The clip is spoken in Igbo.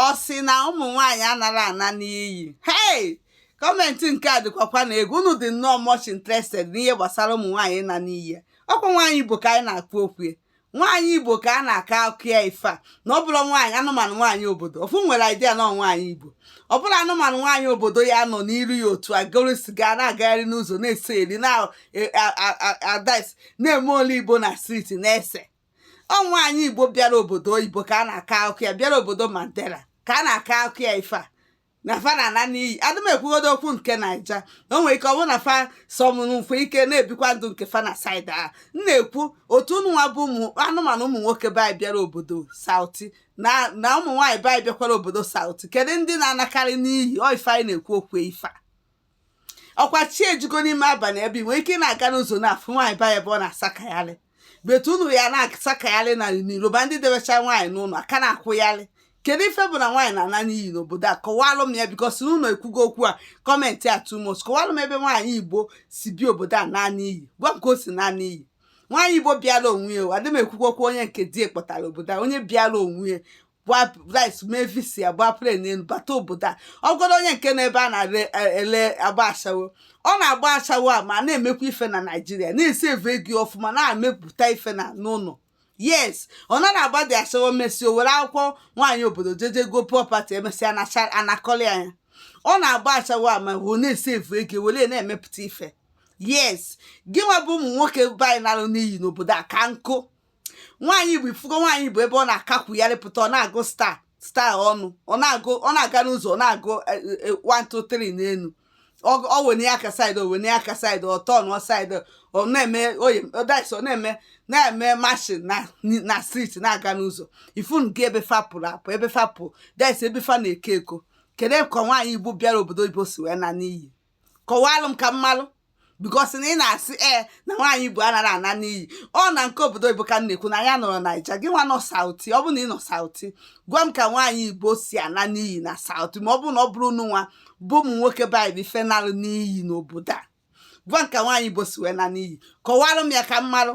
ọ sị na ụmụ nwaanyị anara ana n'iyi hei kọmentị nke a dịkwakwa na egwu unu dị nnọọ much interested n'ihe gbasara ụmụ nwaanyị na n'iyi ọkwa nwaanyị igbo ka anyị na-ekwu okwu ya nwaanyị igbo ka a na-akọ akụkọ ya ife a na ọ bụla nwaanyị anụmanụ nwaanyị obodo ofu nwere idea na nwaanyị igbo ọ bụla anụmanụ nwaanyị obodo ya nọ n'iru ya otu a goro siga na-agagharị n'ụzọ na-ese eri na-adais e, na-emold igbo na striti na-ese ọ nwaanyị igbo bịara obodo oyibo ka a na-akọ akụkọ ya bịara obodo mandela ka a na-akọ akụkọ ya ife a na fa na-ana n'iyi adị m ekwugodo okwu nke naija o nwere ike ọ bụrụ na fa some nwekwa ike na-ebikwa ndụ nke fa na saịdị a m na-ekwu otu unu nwa bụ ụmụ anụmanụ ụmụ nwoke be anyị bịara obodo sauti na ụmụ nwaanyị be anyị bịakwara obodo sauti kedu ndị na-anakarị n'iyi ọ ife anyị na-ekwu okwu ife a ọkwa chi ejigo n'ime abalị ebe i nwere ike ị na-aga n'ụzọ na-afụ nwaanyị be anyị ebe ọ na-asakagharị but unu nwa na-asakagharị na n'iro ma ndị debecha nwaanyị n'ụlọ aka na-akwụgharị kedu ife bụ na nwaanyị na-ana n'iyi n'obodo a kọwalụ m ya bikos unu ekwugo okwu a kọmentị a too much kọwalụ m ebe nwaanyị igbo si bịa obodo a naa n'iyi gwa m ka o si naa n'iyi nwaanyị igbo bịara onwe ya adị m ekwukwo okwu onye nke di kpọtara obodo a onye bịara onwe ya by right mee visa ya gbaa plen n'elu bata obodo a ọ gwara onye nke nọ ebe a na-ele agba ashawo ọ na-agba ashawo a ma na-emekwa ife na naijiria na-esevu ego ọfụma na-emepụta ife na n'ụlọ yes ọ na na-agba dị ashawo mesịa were akwụkwọ nwaanyị obodo jeje goo property emesịa anakọlị ya ọ na-agba ashawo a ma ọ na-esevu ego were na-emepụta ife yes gị nwa bụ ụmụ nwoke be anyị nalụ n'iyi n'obodo a ka nkụ nwaanyị igbo ị fụgo nwaanyị igbo ebe ọ na-akakwu ya lepụta ọ na-agụ star star ọnụ ọ na-agụ ọ na-aga n'ụzọ ọ na-agụ 123 e, e, e, n'elu ọ wene ya aka saịdị o wene ya aka saịdị ọ tọọ nụọ saịdị ọ na-eme oyi ọdaisi ọ na-eme na-eme mashin na striti na-aga n'ụzọ ifun gị ebe fa pụrụ apụ ebe fa pụ that is ebe fa na-eke ego kedu ka nwaanyị igbo bịara obodo oyibo si wee naa n'iyi kọwalụ m ka m malụ bikos na ị na-asị ee eh, na nwaanyị igbo anara ana n'iyi ọ na nke obodo igbo ka m na-ekwu na ya nọrọ naija gị nwa nọ sauti ọ bụ na ị nọ sauti gwa m ka nwaanyị igbo si ana n'iyi na sauti ma ọ bụ na ọ bụrọ unu nwa bụ ụmụ nwoke be anyị bụ ife nalụ n'iyi n'obodo a gwa m ka nwaanyị igbo si wee naa n'iyi kọwalụ m ya ka m malụ